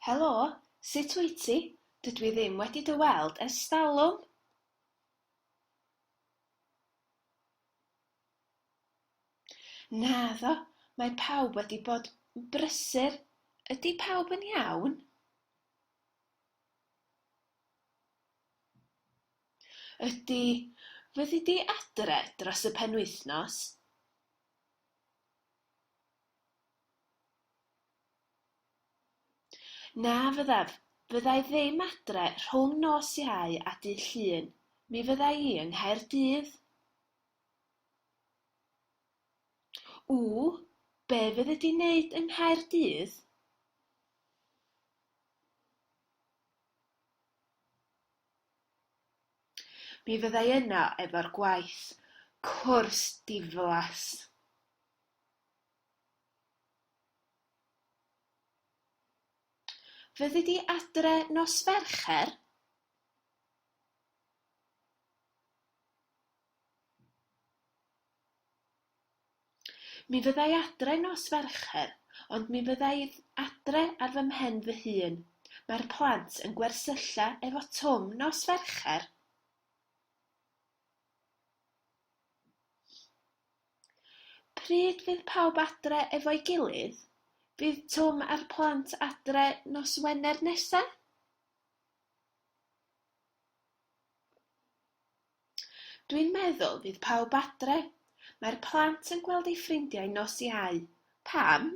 Helo, sut wyt ti? Dydw i ddim wedi dy weld ers talwm! Naddo, mae pawb wedi bod yn brysur. Ydy pawb yn iawn? Ydy, fyddi di adre dros y penwythnos? Na fyddaf, fydda i ddim adre rhwng nos Iau a Dydd Llun, mi fydda i yng Nghaerdydd. Ww, be fyddi di'n neud yng Nghaerdydd? Mi fyddai yno efo'r gwaith cwrs diflas. Fyddi di adre nos Fercher? Mi fyddai adre nos Fercher, ond mi fyddai adre ar fy mhen fy hun. Mae'r plant yn gwersylla efo Twm nos Fercher. Pryd fydd pawb adre efo'i gilydd? Fydd Twm a'r plant adre nos Wener nesa? Dwi'n meddwl fydd pawb adre. Mae'r plant yn gweld eu ffrindiau nos Iau. Pam?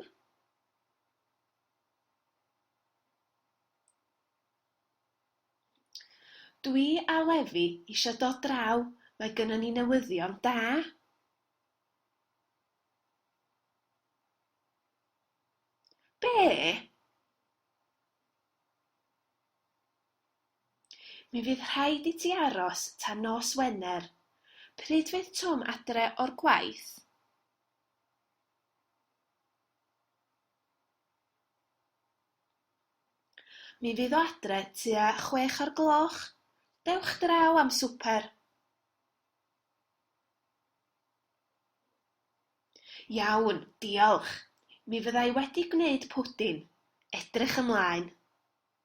Dwi a Lefi isio dod draw, mae gynnon ni newyddion da! Be? Mi fydd rhaid i ti aros tan nos Wener. Pryd fydd Twm adre o'r gwaith? Mi fydd o adre tua chwech o'r gloch. Dewch draw am swper. Iawn, diolch. Mi fydda i wedi gwneud pwdin. Edrych ymlaen.